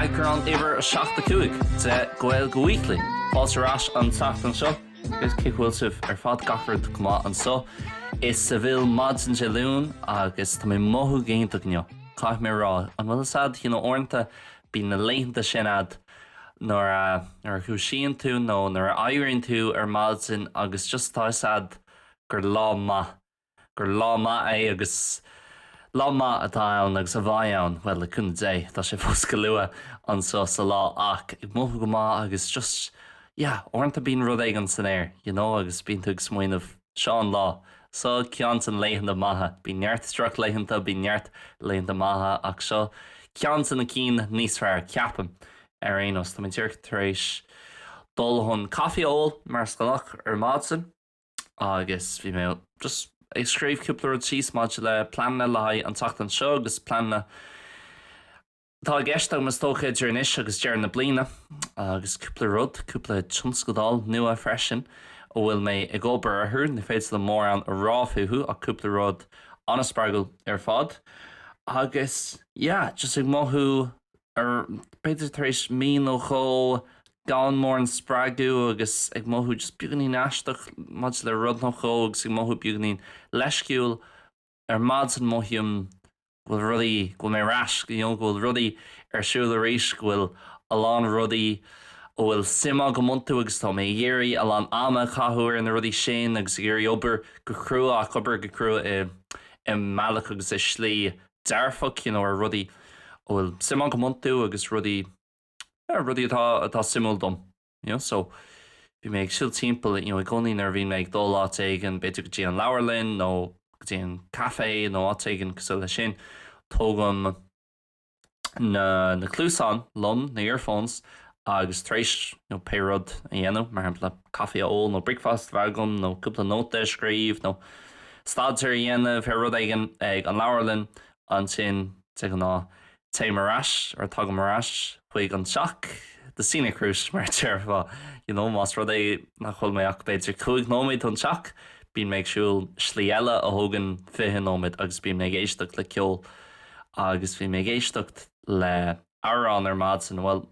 Eagrán uimhir 75 de Gaeilge Weekly. Fáilte ar ais an tseachtain seo. Agus cén chaoi a bhfuil sibh ar fad gach rud go maith anso. Is é, bhuel, maidin Dé Luain agus tá mé ag mothú go hiontach inniu. Caithfidh mé a rá, an bhfuil a fhios a'd, you know, uaireanta, bíonn na laethanta sin a'd nuair a dhúisíonn tú nó nuair a éiríonn tú ar maidin agus just tá a fhios a'd gur lá maith, gur lá maith é agus lá maith atá ann agus a bheidh ann, bhuel, le cúnamh Dé, tá sé fós go luath anseo sa lá ach ag mothú go maith agus just, yeah, uaireanta bíonn rud éigin san aer, you know agus bíonn tú ag smaoineamh, seo an lá, seo ceann de na laethanta maithe, bíonn neart drochlaethanta, bíonn neart laethanta maithe ach seo ceann de na cinn níos fearr, ceapaim, ar aon nós. Tá mé díreach tar éis dul chun caife a ól, mar is gnách, ar maidin. agus bhí mé just ag scríobh cúpla rud síos maidir le pleananna le haghaidh an tseachtain seo agus pleananna atá i gceist agam is dócha idir anois agus deireadh na bliana agus cúpla rud, cúpla tionscadal nua freisin a bhfuil mé ag obair orthu, ní féidir liom mórán a rá fúthu ach cúpla rud an-spreagúil ar fad agus yeah just ag mothú ar, b'fhéidir tar éis mí nó dhó gan mórán spreagadh agus ag mothú just beagáinín aisteach maidir le rud nó dhó agus ag mothú beagáinín leisciúil ar maidin mothaím go bhfuil rudaí, go bhfuil mé ar ais, you know, go bhfuil rudaí ar siúl arís, go bhfuil a lán rudaí a bhfuil suim agam iontu agus tá mé ag iarraidh a lán ama a chaitheamh ar na rudaí sin agus ag iarraidh obair go crua ach obair go crua i mbealach agus i slí dearfach, you know, ar rudaí a bhfuil suim agam iontu agus rudaí, yeah, rudaí atá, atá suimiúil dom, you know. So, bhí mé ag siúl timpeall, you know, i gcónaí nuair a bhíonn mé ag dul áit éigin, b'fhéidir go dtí an leabharlainn nó go dtí an café nó áit éigin cosúil leis sin, tógaim na, na cluasáin liom, na earphones, Agus tar éis pé rud a dhéanamh, mar shampla, caife a ól nó breakfast a bheith agam nó cúpla nóta a scríobh nó staidéar a dhéanamh ar rud éigin ag an leabharlann, ansin, de ghnáth, téim ar ais, or tagaim ar ais, chuig an teach, the scenic route, mar a déarfá. You know, más rud é nach bhfuil mé ach b'fhéidir cúig nóiméad ón teach, bíonn mé ag siúl slí eile a thógann fiche nóiméad agus bíonn mé ag éisteacht le ceol agus bhí mé ag éisteacht le, amhrán ar maidin, bhuel,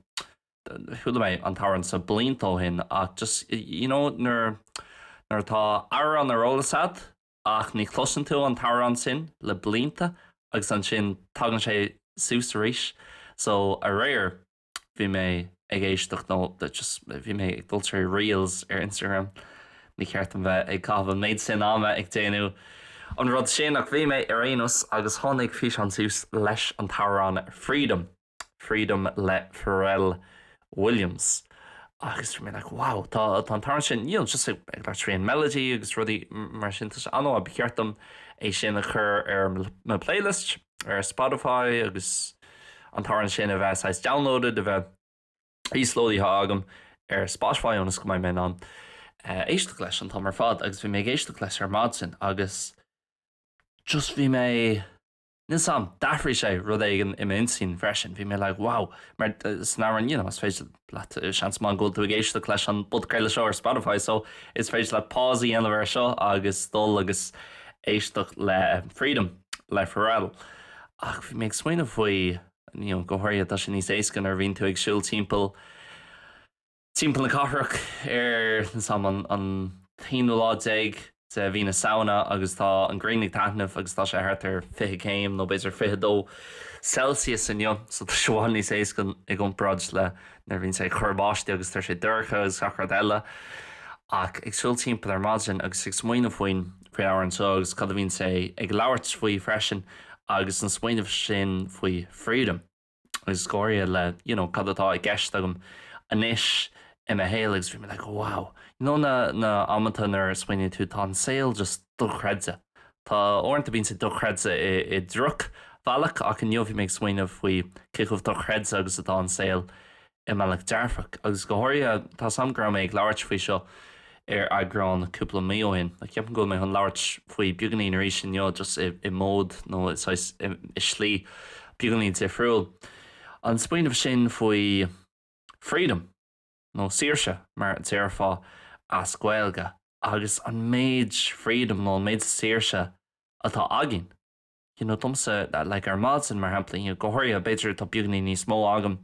chuala mé an t-amhrán seo blianta ó shin ach just, you know nuair, nuair atá amhrán ar eolas a'd ach ní chloiseann tú an t-amhrán sin le blianta agus ansin tagann sé suas arís. So aréir bhí mé ag éisteacht nó just bhí mé ag dul trí reels ar Instagram Ní ceart dom bheith ag caitheamh an méid sin ama ag déanamh an rud sin, ach bhí mé ar aon nós agus tháinig físeán suas leis an amhrán Freedom, Freedom le Pharrell Williams. Agus bhí mé like wow, tá an t-amhrán sin, you know, just ag labhairt faoin melody agus rudaí mar sin, tá sé an-mhaith, ba cheart dom é sin a chur ar mo playlist ar Spotify agus an t-amhrán sin a bheith saghas downloaded, a bheith. íoslódáilte agam ar Spotify ionas go mbeidh mé in ann éisteacht leis an t-am ar fad agus bhí mé ag éisteacht leis ar maidin agus just bhí mé níl a fhios agam, d'athraigh sé rud éigin i m'intinn freisin, bhí mé like wow mar san amhrán you know is féidir leat seans maith go bhfuil tú ag éisteacht leis an bpodchraoladh seo ar Spotify so is féidir leat pause a dhéanamh air seo agus dul agus éisteacht le Freedom le Pharrell ach bhí mé ag smaoineamh faoi Go háirithe, tá sé níos éasca nuair a bhíonn tú ag siúl timpeall timpeall na cathrach ar an t-aonú lá déag de mhí na Samhna agus tá an ghrian ag taitneamh agus tá sé thart ar fiche céim nó b'fhéidir fiche a dó Celsius inniu, so tá sé i bhfad níos éasca i gcomparáid le nuair a bhíonn sé ag cur báistí agus tá sé dorcha agus gach rud eile. Ach ag siúl timpeall ar maidin agus ag smaoineamh faoin. amhrán seo agus cad a bhíonn sé ag labhairt faoi freisin agus an smaoineamh sin faoi freedom agus i gcomhair le you know cad atá i gceist agam anois i mo shaol agus bhí mé like wow you know na, na amanta nuair a smaoiníonn tú tá an saol just dochreidte Tá, uaireanta bíonn sé dochreidte i, i drochbhealach ach inniu bhí mé ag smaoineamh faoi cé chomh dochreidte agus atá an saol i mbealach dearfach, agus go háirithe, tá a fhios agam, go raibh mé ag labhairt faoi seo ar eagrán cúpla mí ó shin, ach ceapaim go bhfuil mé chun labhairt faoi beagáinín arís inniu, just i mód, nó i saghas, i slí beagáinín difriúil. An smaoineamh sin faoi freedom, nó saoirse, mar a déarfá as Gaeilge, agus an méid freedom, nó an méid saoirse atá againn. you know domsa like ar maidin mar shampla you know go háirithe b'fhéidir tá beagáinín níos mó agam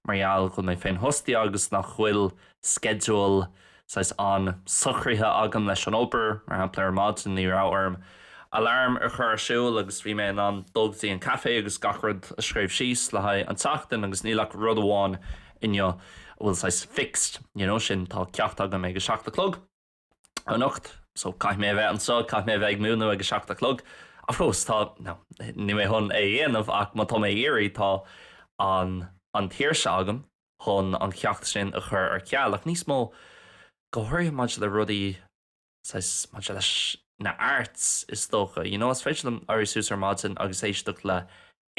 mar gheall go bhfuil mé féinfhostaithe agus nach bhfuil sceideal saghas an-socraithe agam leis an obair mar shampla ar maidin ní raibh orm alarm a chur ar siúl agus bhí mé in ann dul go dtí an café agus gach rud a scríobh síos le haghaidh an tseachtain agus níl ach rud amháin inniu a bhfuil saghas fixed you know sin tá ceacht agam ag a seacht a chlog anocht, so caithfidh mé a bheith anseo, caithfidh mé a bheith ag múineadh ag a seacht a chlog. Of course, tá, no, níl mé chun é a dhéanamh ach má tá mé ag iarraidh, tá an, an tsaoirse agam chun an ceacht sin a chur ar ceal. Ach níos mó, go háirithe maidir le rudaí, saghas, maidir leis na arts, is dócha, you know, is féidir liom éirí suas ar maidin agus éisteacht le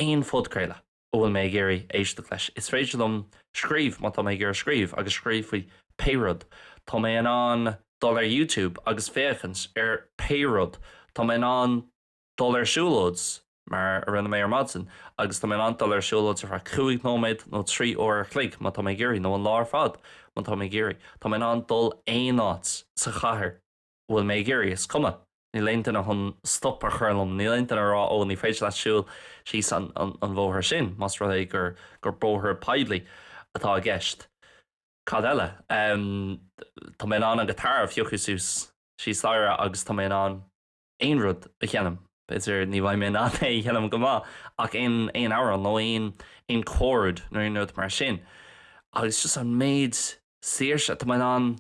aon phodchraoladh, a bhfuil mé ag iarraidh éisteacht leis. Is féidir liom scríobh má tá mé ag iarraidh scríobh, agus scríobh faoi pé rud. Tá mé in ann dul ar YouTube agus féachaint ar pé rud. Tá mé in ann dul ar siúlóid, mar a rinne mé ar maidin, agus tá mé in ann dul ar siúlóid ar feadh cúig nóiméad nó trí uair a chloig má tá mé ag iarraidh, nó an lá ar fad má tá mé ag iarraidh. Tá mé in ann dul aon áit sa chathair. an bhfuil mé ag iarraidh? Is cuma. Níl aon duine chun stop a chur liom. Níl aon duine ag rá, 'Ó, ní féidir leat siúl síos an bhóthair sin', más rud é gur bóthar poiblí atá i gceist. Cad eile? Tá mé in ann an guitar a phiocadh suas thíos staighre agus tá mé in ann aon rud a sheinm, b'fhéidir, ní bheidh mé in ann é a sheinm go maith ach aon amhrán nó aon chord nó aon rud mar sin. Agus just an méid saoirse atá mé in ann.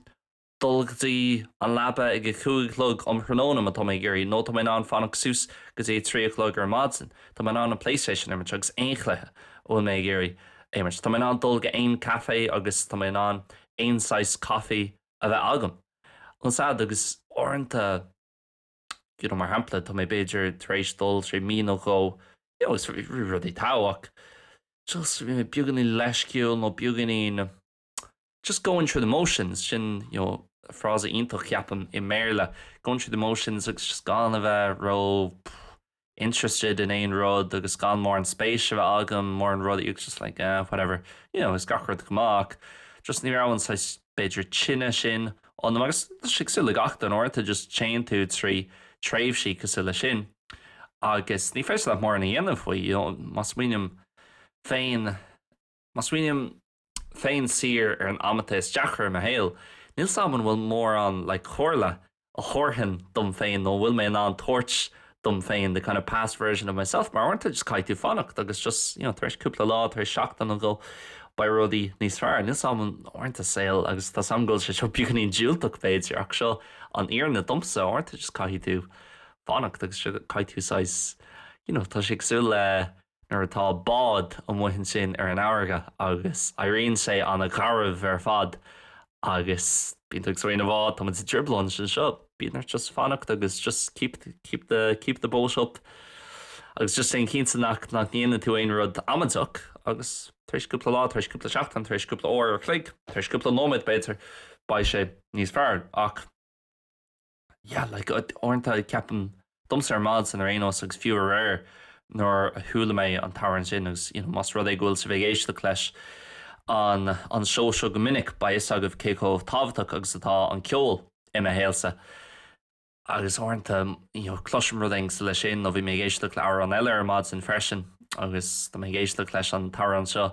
dul go dtí an leaba ag a cúig a chlog um thráthnóna má tá mé ag iarraidh, nó tá mé in ann fanacht suas go dtí a trí a chlog ar maidin, tá mé in ann an Playstation a imirt agus aon chluiche a bhfuil mé ag iarraidh a imirt, tá mé in ann dul go aon café agus tá mé in ann aon saghas coffee a bheith agam, ón side? Agus uaireanta, you know, mar shampla, tá mé b'fhéidir tar éis dul trí mí nó dhó, you know, agus bhí rudaí go maith ach, just, you know, beagáinín leisciúil nó beagáinín. Just going through the motions, sin you know frása iontach ceapaim i mBéarla, going through the motions agus just gan a bheith ró interested in aon rud agus gan mórán spéis a bheith agam i mórán rudaí agus just like ah whatever, you know bhí gach rud go maith ach just ní raibh an saghas b'fhéidir tine sin ionam agus tá sé cosúil le gach duine uaireanta just téann tú trí tréimhsí cosúil le sin agus ní féidir leat mórán a dhéanamh faoi, you know má smaoiním féin Má smaoiním féin siar ar an amanta is deacra i mo shaol, níl 's a'm an bhfuil mórán like comhairle a thabharfainn dom féin nó a bhfuil mé in ann tabhairt dom féin, the kind of past version of myself, mar uaireanta just caithfidh tú fanacht agus just, you know, tar éis cúpla lá, tar éis seachtain nó dhó, beidh rudaí níos fearr. Níl 's a'm an, uaireanta saol, agus tá 's a'm go bhfuil sé seo beagáinín diúltach b'fhéidir, ach seo an fhírinne domsa, uaireanta just caithfidh tú fanacht agus sure caithfidh tú saghas, you know, tá sé cosúil le, nuair atá bád amuigh ansin ar an fharraige agus éiríonn sé ana gharbh ar fad agus bíonn tú ag suí ar an mbád, tá muid i dtrioblóid anseo, bíonn ort just fanacht agus just keep the boat afloat agus just déan cinnte nach nach ndéanann tú aon rud amaideach agus tar éis cúpla lá, tar éis cúpla seachtain, tar éis cúpla uair a chloig, tar éis cúpla nóiméad b'fhéidir beidh sé níos fearr ach. Yeah, like, uaireanta ceapaim domsa ar maidin ar aon nós, agus fiú aréir nuair a chuala mé an t-amhrán sin, agus, you know, más rud é go bhfuil sibh ag éisteacht leis an an seó seo go minic, beidh a fhios agaibh cé chomh tábhachtach agus atá an ceol i mo shaolsa. Agus uaireanta, you know, cloisim rud éigin cosúil leis sin, nó bhí mé ag éisteacht le amhrán eile ar maidin freisin, agus tá mé ag éisteacht leis an t-amhrán seo,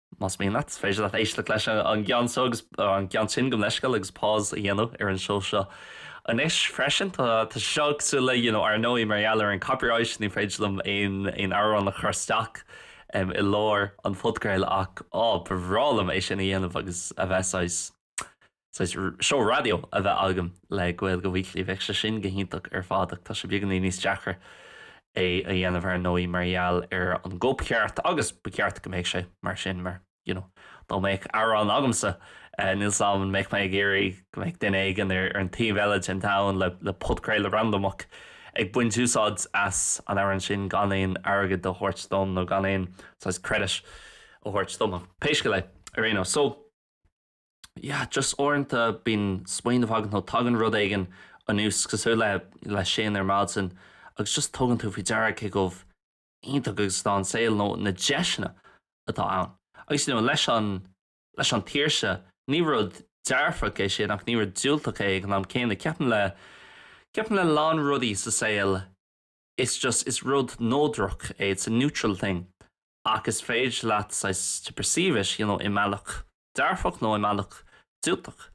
Más mian leat, is féidir leat éisteacht leis an gceann seo agus an gceann sin go leisciúil agus pause a dhéanamh ar an seó seo anois freisin. Tá sé seo cosúil le you know Ar ndóigh, mar gheall ar an copyright, ní féidir liom aon aon amhrán a chur isteach em i lár an phodchraoladh ach á ba bhreá liom é sin a dhéanamh agus a bheith saghas saghas seó raidió a bheith agam le Gaeilge Weekly. Bheadh sé sin go hiontach ar fad ach tá sé beagáinín níos deacra é a dhéanamh ar ndóigh mar gheall ar an gcóipcheart agus ba cheart go mbeadh sé mar sin mar you know dá mbeadh amhrán agamsa níl 's 'am an mbeadh mé ag iarraidh go mbeadh duine éigin ar an taobh eile den domhan le le podchraoladh randamach ag baint úsáid as an amhrán sin gan aon airgead a thabhairt dom nó gan aon saghas credit a thabhairt dom ach pé scéal é ar aon nós so yeah just uaireanta bíonn smaoineamh agat nó tagann rud éigin anuas cosúil le, le sin ar maidin agus just tugann tú faoi deara cé chomh iontach agus atá an saol nó na deiseanna atá ann. Agus you know leis an, leis an tsaoirse, ní rud dearfach é sin ach ní rud diúltach é ag an am céanna. Ceapaim le, ceapaim le lán rudaí sa saol is just, is rud neodrach é, it's a neutral thing. Ach is féidir leat saghas to perceive it, you know, i mbealach dearfach nó i mbealach diúltach.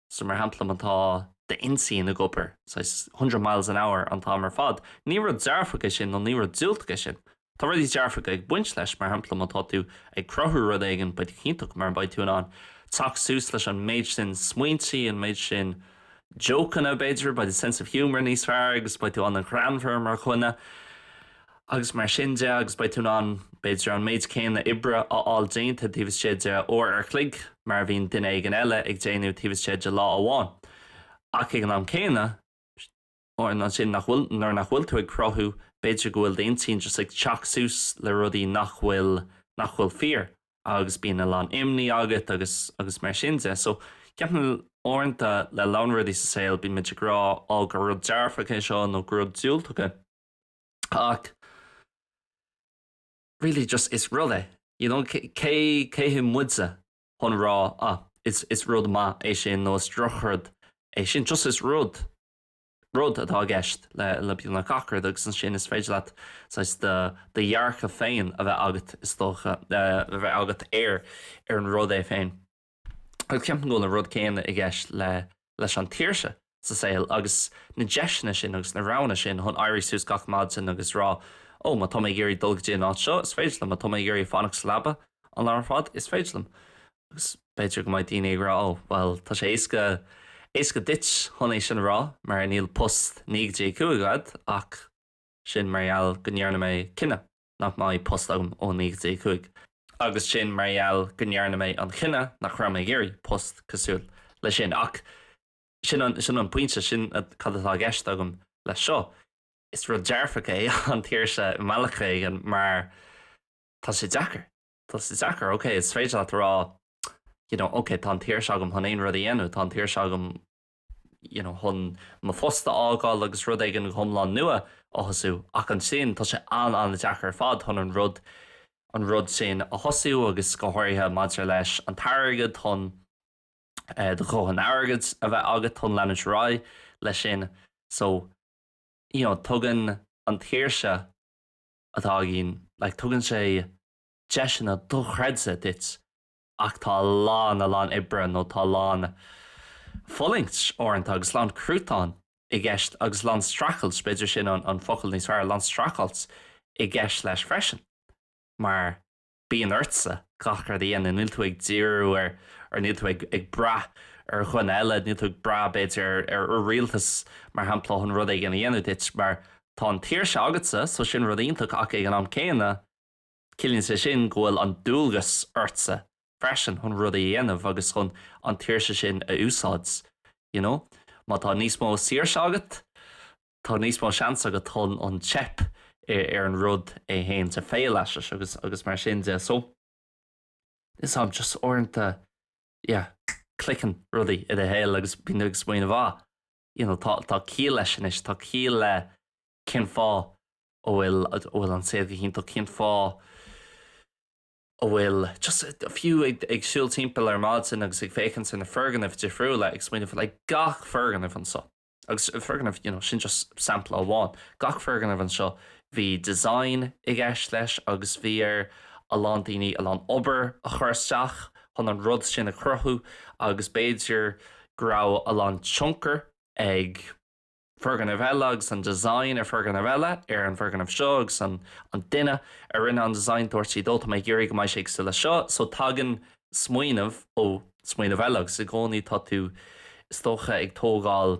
So, mar shampla, má tá d'intinn ag obair saghas hundred miles an hour an t-am ar fad, ní rud dearfach é sin nó ní rud diúltach é sin. Tá rudaí dearfacha ag baint leis, mar shampla, má tá tú ag cruthú rud éigin, beidh tú go hiontach mar beidh tú in ann teacht suas leis an méid sin smaointe, an méid sin jócanna, b'fhéidir, beidh do sense of humour níos fearr agus beidh tú an-ghreannmhar mar dhuine. agus mar sin de, agus beidh tú in ann, b'fhéidir, an méid céanna oibre a fháil déanta taobh istigh de uair ar chloig mar a bhíonn duine éigin eile ag déanamh taobh istigh de lá amháin. Ach ag an am céanna, an ansin nach bhfuil, nuair nach bhfuil tú ag cruthú, b'fhéidir go bhfuil d'intinn just ag teacht suas le rudaí nach bhfuil, nach bhfuil fíor, agus bíonn a lán imní agat agus, agus mar sin de. So, ceapaim, uaireanta, le a lán rudaí sa saol, bímid ag rá, oh, gur rud dearfach é seo nó gur rud diúltach é. Ach really just is rud é, you know, cé cé hé muidse chun rá ah is is rud maith é sin nó is drochrud é sin, just is rud, rud atá i gceist le le beagnach gach rud agus ansin is féidir leat saghas do do dhearcadh féin a bheith agat is dócha, a bheith agat ar ar an rud é féin. agus ceapaim go bhfuil an rud céanna i gceist leis an tsaoirse sa saol agus na deiseanna sin agus na roghanna sin chun éirí suas gach maidin agus rá oh má tá mé ag iarraidh dul go dtí an áit seo is féidir liom, má tá mé ag iarraidh fanacht sa leaba an lá ar fad is féidir liom agus b'fhéidir go mbeidh daoine ag rá oh bhuel tá sé éasca, éasca duit chun é sin a rá mar níl post naoi go dtí a cúig agat ach sin mar gheall go ndearna mé cinneadh. nach mbeidh post agam ó naoi go dtí a cúig, agus sin mar gheall go ndearna mé an cinneadh nach raibh mé ag iarraidh post cosúil leis sin, ach sin an, sin an pointe, sin cad atá i gceist agam leis seo. Is rud dearfach é an tsaoirse i mbealach éigin mar tá sé deacair, tá sé deacair, ok, is féidir leat a rá, you know, ok, tá an tsaoirse agam chun aon rud a dhéanamh, tá an tsaoirse agam, you know, chun mo phost a fhágáil agus rud éigin go hiomlán nua a thosú. Ach ansin, tá sé an-an-deacair ar fad chun an rud, an rud sin a thosú agus go háirithe maidir leis an t-airgead, chun eh, do dhóthain airgid a bheith agat chun leanúint ar aghaidh leis sin. So, you know, tugann an tsaoirse atá againn, like, tugann sé deiseanna dochreidte duit. Ach tá a lán, a lán oibre, nó tá a lán fulaingt, uaireanta, agus a lán cruatain i gceist, agus a lán streachailt, b'fhéidir sin an focal níos fearr, a lán streachailt i gceist leis freisin. Mar bíonn ortsa gach rud a dhéanamh, níl tú ag díriú ar, or níl tú ag brath ar dhuine eile, níl tú ag brath, b'fhéidir, ar ar rialtas, mar shampla, chun rud éigin a dhéanamh duit, mar tá an tsaoirse agatsa, so sin rud iontach, ach ag an am céanna, Ciallaíonn sé sin go bhfuil an dualgas ortsa freisin chun rudaí a dhéanamh agus chun an tsaoirse sin a úsáid. You know? Má tá níos mó saoirse agat, tá níos mó seans agat chun an teip ar an rud é féin to fail at it agus mar sin de. So, is ea um just uaireanta, yeah, cliceann rudaí i do shaol agus bíonn tú ag smaoineamh, ah, you know, tá tá ciall leis anois, tá ciall le, cén fáth a bhfuil, a bhfuil an saol go hiontach, cén fáth a bhfuil, just fiú ag, ag siúl timpeall ar maidin agus ag féachaint ar na foirgnimh difriúla, ag smaoineamh faoi, like gach foirgneamh anseo, agus foirgneamh, you know, sin just sampla amháin, gach foirgneamh anseo, bhí design i gceist leis agus bhí ar a lán daoine a lán obair a chur isteach chun an rud sin a chruthú agus b'fhéidir go raibh a lán tionchar ag foirgneamh eile agus an design ar fhoirgneamh eile ar an bhfoirgneamh seo agus an an duine a rinne an design dúirt siad ó tá mé ag iarraidh go mbeidh sé cosúil le seo so tagann smaoineamh ó smaoineamh eile agus i gcónaí tá tú is dócha ag tógáil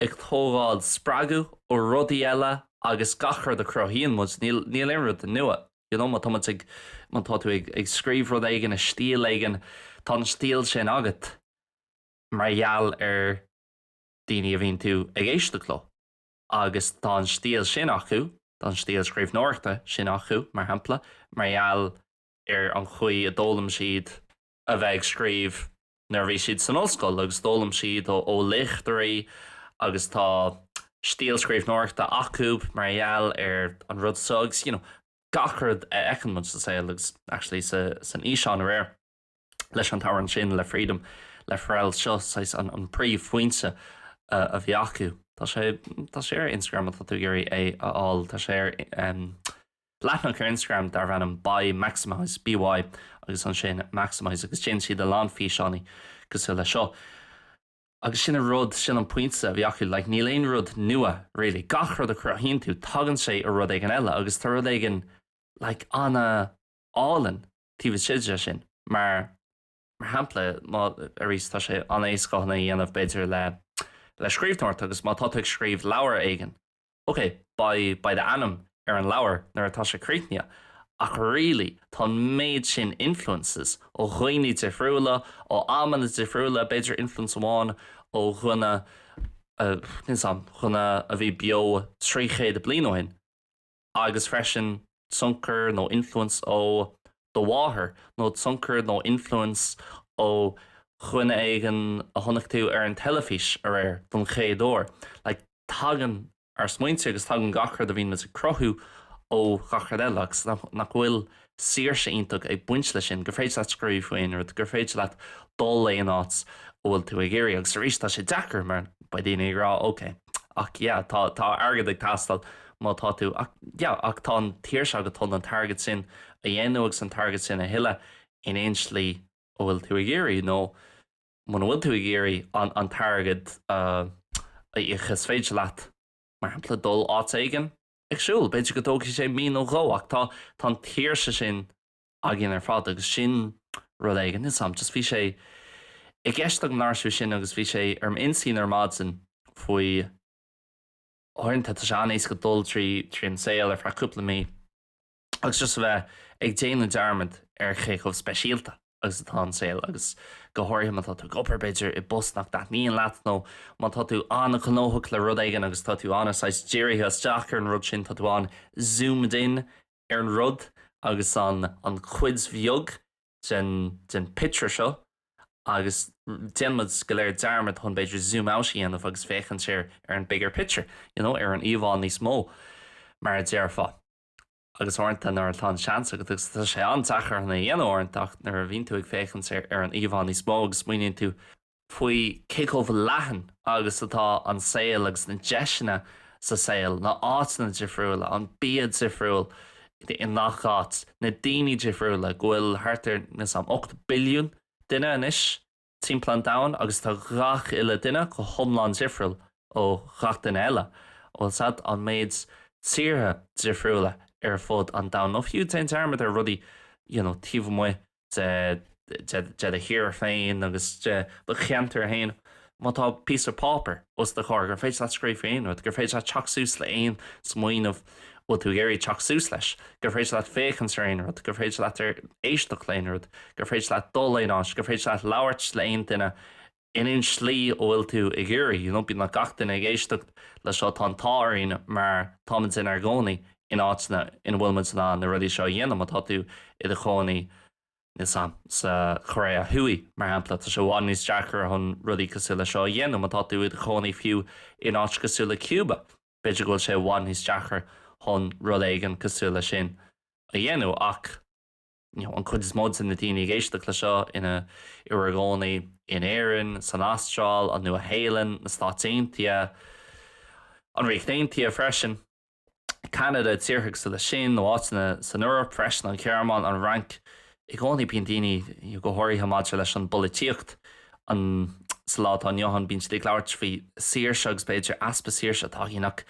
ag tógáil spreagadh ó rudaí eile agus gach rud a chruthaíonn muid níl níl aon rud nua you know má tá muid ag má tá tú ag ag scríobh rud éigin i stíl éigin tá an stíl sin agat mar gheall ar daoine a bhíonn tú ag éisteacht leo agus tá an stíl sin acu, tá an stíl scríbhneoireachta sin acu, mar shampla, mar gheall ar an chaoi a d'fhoghlaim siad a bheith ag scríobh nuair a bhí siad san ollscoil agus d'fhoghlaim siad ó léachtóirí agus tá stíl scríbhneoireachta acu mar gheall ar an rud seo agus, you know, gach rud a fheiceann muid sa saol agus, actually, san fhíseán aréir. leis an amhrán sin, le Freedom, le Pharrell, seo saghas an an príomhphointe a bhí acu. Tá sé, tá sé ar Instagram má tá tú ag iarraidh é a fháil, tá sé ar em, leathnach ar Instagram darb ainm By Maximize, BY, agus ansin Maximize agus déanann siad a lán físeánaí cosúil le seo. Agus sin an rud, sin an pointe a bhí acu, like níl aon rud nua really, gach rud a chruthaíonn tú tagann sé ó rud éigin eile agus tá rud éigin like an-álainn taobh istigh de sin. Mar shampla, má, arís, tá sé an-éasca é a dhéanamh, b'fhéidir, le, le scríbhneoireacht agus má tá tú ag scríobh leabhair éigin, ok, beidh, beidh d'ainm ar an leabhar nuair atá sé críochnaithe ach really tá an méid sin influences ó dhaoine difriúla, ó amanna difriúla, b'fhéidir influence amháin ó dhuine, níl a fhios agam, dhuine a bhí beo trí chéad bliain ó shin. agus freisin tionchar nó influence ó do mháthair, nó tionchar nó influence ó dhuine éigin a chonaic tú ar an teilifís aréir don chéad uair. Like, tagann ár smaointe agus tagann gach rud a bhíonn muid ag cruthú ó gach rud eile, agus nach bhfuil saoirse iontach ag baint leis sin, gur féidir leat scríobh faoi aon rud, gur féidir leat dul aon áit a bhfuil tú ag iarraidh. Agus arís, tá sé deacair mar beidh daoine ag rá, ok, ach yeah, tá, tá airgead ag teastáil má tá tú, ach yeah, ach tá an tsaoirse agat chun an t-airgead sin a dhéanamh agus an t-airgead sin a thuilleadh in aon slí a bhfuil tú ag iarraidh nó muna bhfuil tú ag iarraidh an, an t-airgead a íoc is féidir leat, mar shampla, dul áit éigin. ag siúl. B'fhéidir go dtógfaidh sé mí nó dhó ach tá an tsaoirse sin againn ar fad agus sin rud éigin. Níl a fhios a'm, just bhí sé i gceist agam labhairt faoi sin agus bhí sé ar m'intinn ar maidin faoi uaireanta tá sé an-éasca dul trí an saol ar feadh cúpla mí, agus just a bheith ag déanamh dearmad ar cé chomh speisialta agus atá an saol, agus go háirithe má tá tú ag obair, b'fhéidir, i bpost nach dtaitníonn leat, nó má tá tú an-ghnóthach le rud éigin agus tá tú ana shaghas dírithe isteach ar an rud sin, tá tú an-zoomed in ar an rud agus an chuid bheag den picture seo agus déanann muid go léir dearmad chun b'fhéidir zoom out a dhéanamh agus féachaint ar an bigger picture, you know, ar an íomhá níos mó, mar a déarfá. agus uaireanta nuair atá an seans agat, agus tá sé an-deacair chun é a dhéanamh uaireanta, ach nuair a bhíonn tú ag féachaint ar ar an íomhá níos mó agus smaoiníonn tú faoi cé chomh leathan agus atá an saol agus na deiseanna sa saol, na áiteanna difriúla, an bia difriúil i ngach áit, na daoine difriúla, go bhfuil thart ar, measaim, ocht billiún duine anois. timpeall an domhain agus tá gach uile duine go hiomlán difriúil ó gach duine eile, ó agus an méid tíortha difriúla ar fud an domhan, nó fiú déan dearmad ar rudaí you know taobh amuigh de de de do thír féin agus de cheantar féin, má tá píosa páipeir os do chomhair gur féidir leat scríobh faoi aon rud, gur féidir leat teacht suas le aon smaoineamh. a bhfuil tú ag iarraidh teacht suas leis? Gur féidir leat féachaint ar aon rud? Gur féidir leat éisteacht le aon rud? Gur féidir leat dul aon áit? Gur féidir leat labhairt le aon duine in aon slí a bhfuil tú ag iarraidh? You know? B'fhéidir nach gach duine ag éisteacht le seo. Tá an t-ádh orainn mar táimid inár gcónaí in áiteanna ina bhfuil muid in ann na rudaí seo a dhéanamh. Má tá tú i do chónaí, níl 's agam, sa Choiréa Thuaidh, mar shampla, tá sé i bhfad níos deacra chun rudaí cosúil le seo a dhéanamh. Má tá tú i do chónaí fiú in áit cosúil le Cuba, B'fhéidir go bhfuil sé i bhfad níos deacra chun rud éigin cosúil le sin a dhéanamh ach you know an chuid is mó de na daoine ag éisteacht le seo ina gcónaí in Éirinn, san Astráil, an Nua Shéalainn, na Stáit Aontaithe, an Ríocht Aontaithe freisin, Ceanada, tíortha cosúil leis sin nó áiteanna san Eoraip freisin, an Ghearmáin, an Fhrainc, I gcónaí bíonn daoine, go háirithe maidir leis an bpolaitíocht, an, sa lá atá inniu ann, bíonn siad ag labhairt faoi saoirse agus b'fhéidir easpa saoirse atá againn ach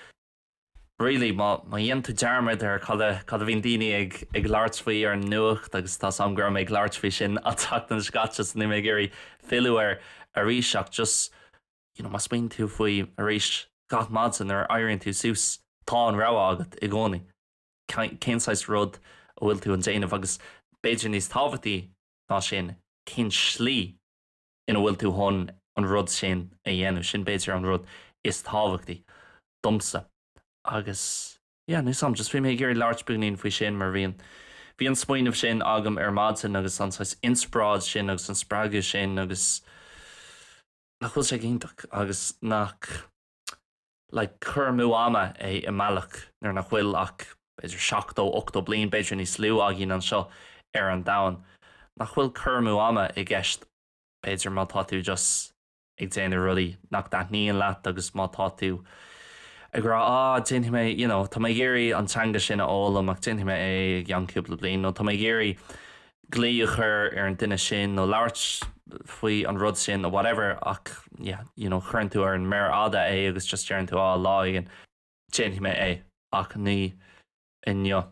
really má dhéanann tú dearmad ar cad a, cad a bhíonn daoine ag, ag labhairt faoi ar an nuacht agus tá 's agam go raibh mé ag labhairt faoi sin an tseachtain seo caite so níl mé ag iarraidh filleadh air arís ach just you know má smaoiníonn tú faoi arís gach maidin nuair a éiríonn tú suas tá an rogha agat i gcónaí. cén saghas rud a bhfuil tú ag déanamh agus b'fhéidir níos tábhachtaí ná sin, cén slí ina bhfuil tú chun an rud sin a dhéanamh. Sin b'fhéidir an rud is tábhachtaí domsa. Agus yeah, níl 's agam, just bhí mé ag iarraidh labhairt beagainín faoi sin mar bhí an, bhí an smaoineamh sin agam ar maidin agus an saghas inspioráid sin agus an spreagadh sin agus nach bhfuil sé go hiontach agus nach. like, cur amú ama é i mbealach nuair nach bhfuil ach b'fhéidir seachtó, ochtó bliain, b'fhéidir níos lú, againn anseo ar an domhan. Nach bhfuil cur amú ama i gceist b'fhéidir má tá tú just ag déanamh rudaí nach dtaitníonn leat agus má tá tú ag rá ah, déanfaidh mé, you know, tá mé ag iarraidh an teanga sin a fhoghlaim ach déanfaidh mé é i gceann cúpla bliain nó tá mé ag iarraidh, glaoch a chur ar an duine sin nó labhairt faoi an rud sin nó whatever ach yeah you know cuireann tú ar an méar fhada é agus just deireann tú ah lá éigin déanfaidh mé é ach ní inniu.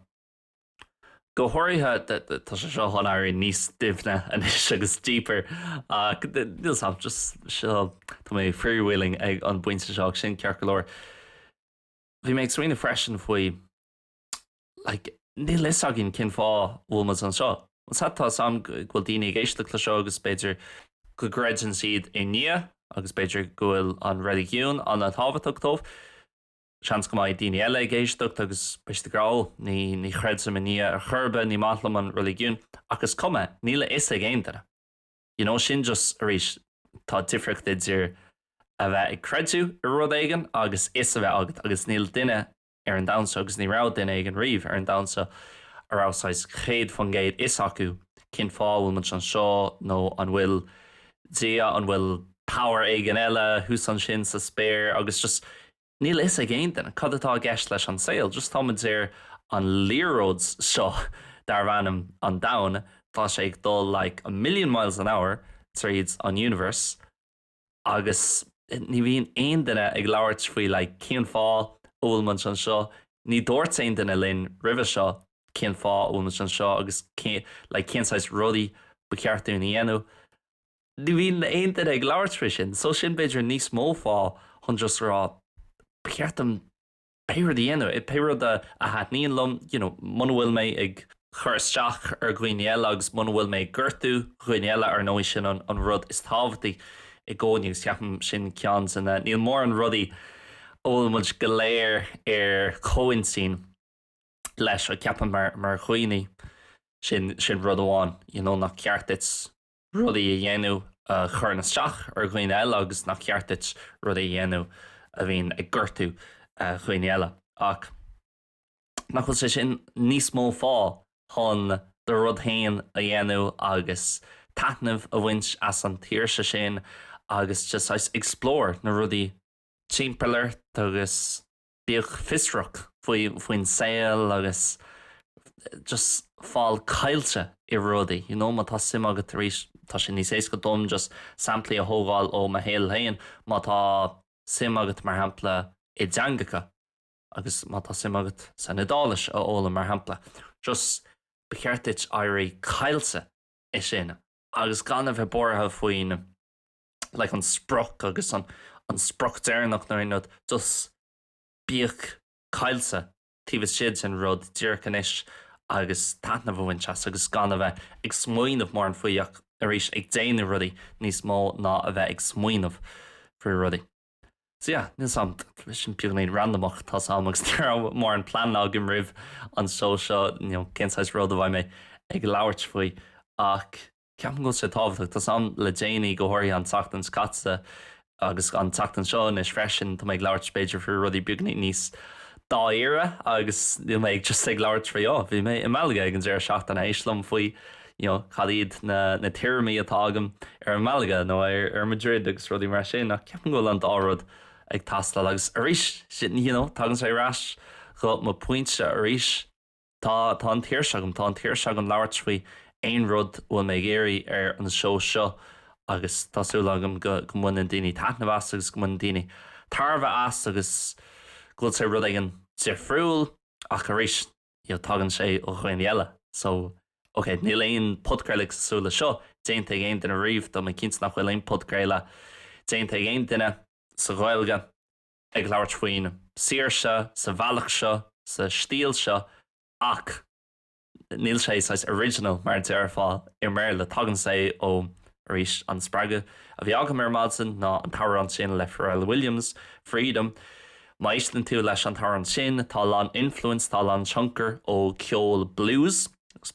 Go háirithe tá sé seo chun éirí níos doimhne anois agus deeper ach níl fhios agam just seo tá mé freewheeling ag an bpointe seo ach sin ceart go leor. Bhí mé ag smaoineamh freisin faoi. Like, níl fhios againn cén fáth a bhfuil muid anseo. Is tá fhios agam go bhfuil daoine ag éisteacht le seo agus b'fhéidir go gcreideann siad i nDia agus b'fhéidir go bhfuil an reiligiún an-tábhachtach dóibh. Seans go mbeidh daoine eile ag éisteacht agus beidh siad ag rá, 'Ó, ní, ní chreidim i nDia ar chor ar bith, ní maith liom an reiligiún. Ach is cuma, níl a fhios ag aon duine. You know, sin just, arís, tá difríocht idir a bheith ag creidiúint i rud éigin agus fhios a bheith agat agus níl duine ar an domhan seo agus ní raibh duine éigin riamh ar an domhan seo a raibh saghas céad faoin gcéad fhios acu cén fáth a bhfuil muid anseo nó an bhfuil Dia, an bhfuil power éigin eile thuas ansin sa spéir agus just níl fhios ag aon duine cad atá i gceist leis an saol, just tá muid ar an liathróid seo darb ainm an domhan, tá sé ag dul like a million miles an hour tríd an universe. Agus ní bhíonn aon duine ag labhairt faoi like cén fáth a bhfuil muid anseo, ní dúirt aon duine linn roimhe seo cén fáth a bhfuil muid anseo agus cén like cén saghas rudaí ba cheart dúinn a dhéanamh, ní bhíonn aon duine ag labhairt faoi sin. So sin b'fhéidir níos mó fáth chun just a rá ba cheart dom pé rud a dhéanamh, pé rud a thaitníonn liom, you know, muna bhfuil mé ag cur isteach ar dhaoine eile agus muna bhfuil mé ag gortú dhaoine eile, ar ndóigh, sin an rud is tábhachtaí i gcónaí agus ceapaim sin ceann de na, níl mórán rudaí a bhfuil muid go léir ar comhintinn leis, ach ceapaim mar dhaoine, sin rud amháin, you know, nach ceart duit rudaí a dhéanamh a chuireann isteach ar dhaoine eile agus nach ceart duit rudaí a dhéanamh a bhíonn ag gortú dhaoine eile. Ach nach bhfuil sé sin níos mó fáth chun do rud féin a dhéanamh agus taitneamh a bhaint as an tsaoirse sin agus just saghas explore na rudaí timpeall ort agus Bíodh fiosrach faoin saol agus just fáil caillte i rudaí, you know, má tá suim agat arís, tá sé níos éasca dom just samplaí a thógáil ó mo shaol féin, má tá suim agat, mar shampla, i dteangacha agus má tá suim agat san Iodáilis a fhoghlaim, mar shampla, just ba cheart duit éirí caillte i sin agus gan a bheith buartha faoin. like an sprioc agus an sprioc deireanach nó an end rud just bíodh caillte taobh istigh sa rud díreach anois agus taitneamh a bhaint as agus gan a bheith ag smaoineamh mórán faoi ach arís ag déanamh rudaí níos mó ná a bheith ag smaoineamh faoi rudaí. So yeah, níl 's agam, bhí sin beagáinín randamach tá 's agam agus ní raibh mórán plean agam roimh an seó seo, you know, cén saghas rud a bheidh mé ag labhairt faoi ach Ceapaim go bhfuil sé tábhachtach. Tá 's agam le déanaí, go háirithe an tseachtain seo caite agus an tseachtain seo anois freisin, tá mé ag labhairt b'fhéidir faoi rudaí beagáinín níos dáiríre agus níl mé just ag labhairt faoi oh bhí mé i Malaga ag an deireadh seachtaine, éist liom faoi you know cad iad na na tuairimí atá agam ar Malaga nó ar ar Madrid agus rudaí mar sin ach ceapaim go bhfuil an dá rud ag teastáil agus arís sin you know tagann sé ar ais go mo pointe arís. Tá, tá an tsaoirse agam, tá an tsaoirse agam labhairt faoi aon rud a bhfuil mé ag iarraidh ar an seó seo agus tá súil agam go, go mbaineann daoine taitneamh as agus go mbaineann daoine tairbhe as agus go bhfuil sé rud éigin difriúil ach arís you know tagann sé ó dhaoine eile so ok níl aon podchraoladh cosúil le seo déanta ag aon duine riamh, tá mé cinnte nach bhfuil aon podchraoladh déanta ag aon duine sa Ghaeilge. ag labhairt faoin saoirse sa bhealach seo, sa stíl seo, ach níl sé saghas original, mar a déarfá, i mBéarla. Tagann sé ó, arís, an spreagadh a bhí agam ar maidin ná an t-amhrán sin le Pharrell Williams, Freedom. Má éisteann tú leis an t-amhrán sin, tá a lán influence, tá a lán tionchar ó cheol blues.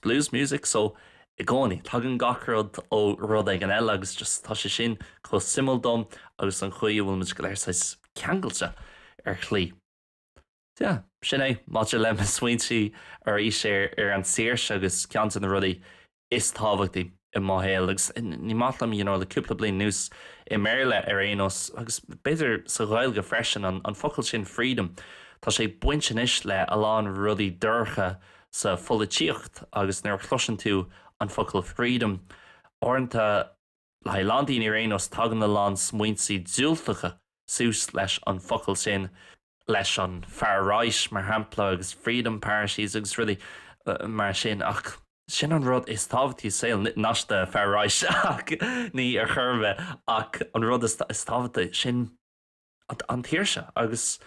blues music so i gcónaí. Tagann gach rud ó rud éigin eile agus just tá sé sin chomh suimiúil dom agus an chaoi a bhfuil muid go léir saghas ceangailte ar shlí. So yeah, sin é maidir le mo smaointe arís ar an saoirse agus ceann de na rudaí is tábhachtaí. i mo shaol, agus ní maith liom, you know, le cúpla bliain anuas, i mBéarla ar aon nós, agus b'fhéidir sa Ghaeilge freisin, an, an focal sin freedom, tá sé ag baint anois le a lán rudaí dorcha sa pholaitíocht, agus nuair a chloiseann tú an focal freedom, uaireanta, le haghaidh a lán daoine ar aon nós, tagann a lán smaointe diúltacha suas leis an focal sin. leis an far right, mar shampla, agus freedom parties agus rudaí mar sin, ach sin an rud is tábhachtaí i saol, not the far right, ach ní ar chor ar bith, ach an rud is tábhachtaí, sin an tsaoirse agus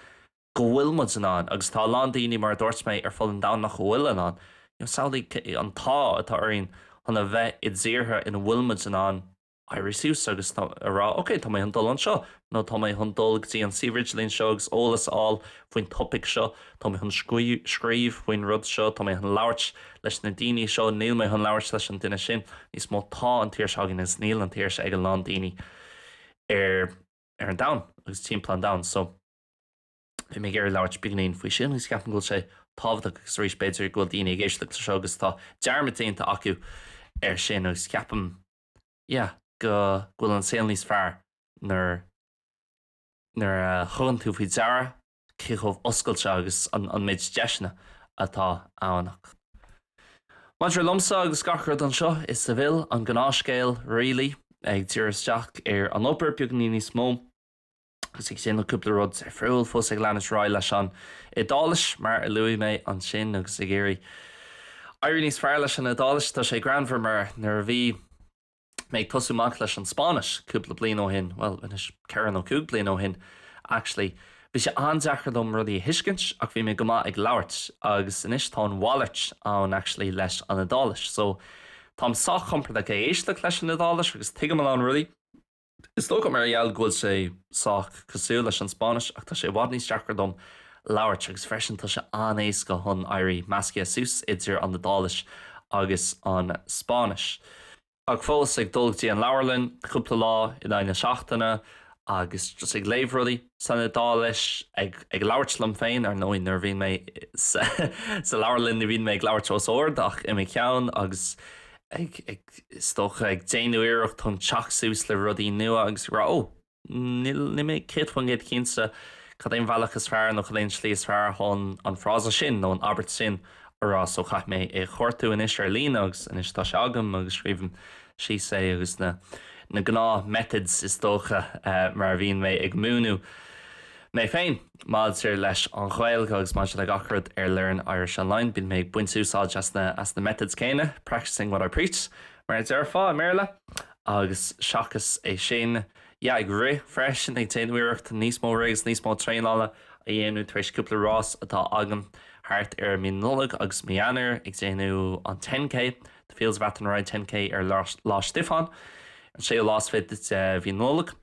go bhfuil muid in ann, agus tá a lán daoine, mar a dúirt mé, ar fud an domhain nach bhfuil in ann. Samhlaigh an t-ádh atá orainn chun a bheith i dtíortha ina bhfuil muid in ann, éirí suas agus a rá ok, tá mé chun dul anseo, nó tá mé chun dul go dtí an suíomh idirlín seo agus eolas a fháil faoin topaic seo, tá mé chun scríobh faoin rud seo, tá mé chun labhairt leis na daoine seo, níl mé chun labhairt leis an duine sin níos mó. Tá an tsaoirse againn agus níl an tsaoirse ag a lán daoine ar an domhan agus timpeall an domhain. So, bhí mé ag iarraidh labhairt beagainín faoi sin agus ceapaim go bhfuil sé tábhachtach agus arís b'fhéidir go bhfuil daoine ag éisteacht leis seo agus tá dearmad déanta acu ar sin agus ceapaim yeah, go bhfuil an saol níos fearr nuair, nuair a thugann tú faoi deara cé chomh oscailte agus an, an méid deiseanna atá ann ach. Maidir liomsa agus gach rud anseo, is, bhuel, an gnáthscéal really, ag díriú isteach ar an obair beagainín níos mó, agus ag déanamh cúpla rud difriúil, fós ag leanúint ar aghaidh leis an Iodáilis, mar a luaigh mé, ansin, agus ag iarraidh éirí níos fearr leis an Iodáilis. Tá sé greannmhar, mar nuair a bhí mé ag tosú amach leis an Spáinnis cúpla bliain ó shin, bhuel, anois, ceithre nó cúig bliana ó shin, actually, bhí sé an-deacair dom rudaí a thuiscint, ach bhí mé go maith ag labhairt, agus anois, tá an mhalairt ann, actually, leis an Iodáilis. So, táim sách compordach ag éisteacht leis an Iodáilis, agus tuigim a lán rudaí. Is dócha mar gheall go bhfuil sé sách cosúil leis an Spáinnis, ach tá sé i bhfad níos deacra dom labhairt, agus freisin tá sé an-éasca chun éirí meascaithe suas idir an Iodáilis agus an Spáinnis. Ach fós, ag dul go dtí an leabharlann cúpla lá in aghaidh na seachtaine agus just ag léamh rudaí san Iodáilis, ag labhairt liom féin, ar ndóigh, nuair a bhíonn mé sa leabharlann ní bhíonn mé ag labhairt os ard ach i mo cheann agus ag. is dócha, ag déanamh iarracht chun teacht suas le rudaí nua agus ag rá, 'Ó, níl mé céad faoin gcéad cinnte cad é an bealach is fearr nó cad é an tslí is fearr chun an frása sin nó an abairt sin a rá, so caithfidh mé é a chuartú anois ar líne agus anois tá sé agam agus scríobhaim síos é agus na gnáth-methods is dócha mar a bhíonn mé ag múineadh mé féin. Maidir leis an Ghaeilge agus maidir le gach rud ar Learn Irish Online, bíonn mé ag baint úsáid as na as na methods céanna, practicing what I preach, mar a déarfá i mBéarla. Agus seachas é sin, yeah, ag rith freisin, ag déanamh iarracht níos mó rith agus níos mó traenála a dhéanamh tar éis cúpla rás atá agam thart ar mí Nollag agus mí Eanáir, ag déanamh an 10K, the Fields of Athenry 10K ar Lá Stiofáin, an séú lá is fiche de mhí Nollag.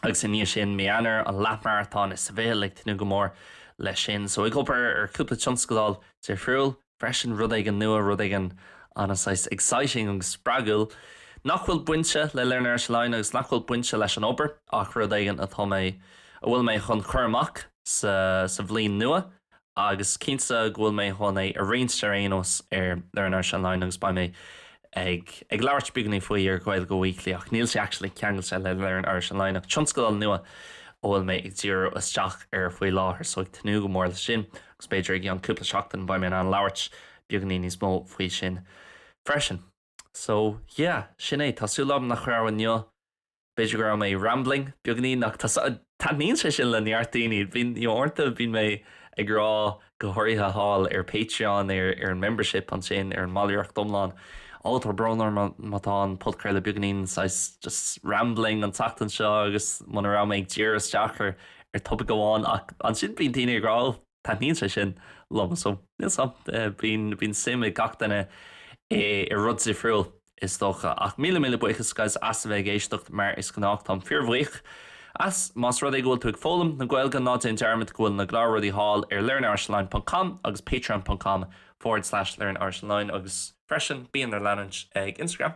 agus i ndiaidh sin, mí Eanáir, an leathmharatón i Seville ag tnúth go mór leis sin. So, ag obair ar cúpla tionscadal difriúil freisin, rud éigin nua, rud éigin ana saghas exciting agus spreagúil nach bhfuil bainte le Learn Irish Online agus nach bhfuil bainte leis an obair ach rud éigin atá mé, a bhfuil mé chun cur amach sa bhliain nua Agus cinnte go bhfuil mé chun é a roinnt ar aon nós ar Learn Irish Online agus beidh mé ag ag labhairt beagainín faoi ar Gaeilge Weekly ach níl sé actually ceangailte le Learn Irish Online ach tionscadal nua a bhfuil mé ag díriú isteach air faoi láthair so ag tnúth go mór leis sin agus b'fhéidir i gceann cúpla seachtain beidh mé in ann labhairt beagainín níos mó faoi sin freisin. So, yeah, sin é. Tá súil agam nach raibh inniu, b'fhéidir go raibh mé rambling beagainín ach taitníonn sé sin le neart daoine. Bíonn, you know, uaireanta bíonn mé ag rá, go háirithe thall ar Patreon, ar, ar an membership ansin, ar an mballraíocht iomlán, oh, tá brón orm má tá an podchraoladh beagainín saghas just rambling an tseachtain seo agus muna raibh mé ag díriú isteach ar, ar topaic amháin ach ansin bíonn daoine ag rá, oh, Taitníonn sé sin liomsa. So. Bíonn suim ag gach duine i rud difriúil, is dócha. Ach míle míle buíochas guys as a bheith ag éisteacht, mar is gnách. Táim fíorbhuíoch as. Más rud é go bhfuil tú ag foghlaim na Gaeilge, ná déan dearmad go bhfuil na cláracha thall ar learnirishonline ponc com agus patreon ponc com forward slash learnirishonline, agus freisin bí dár leanúint ar Instagram.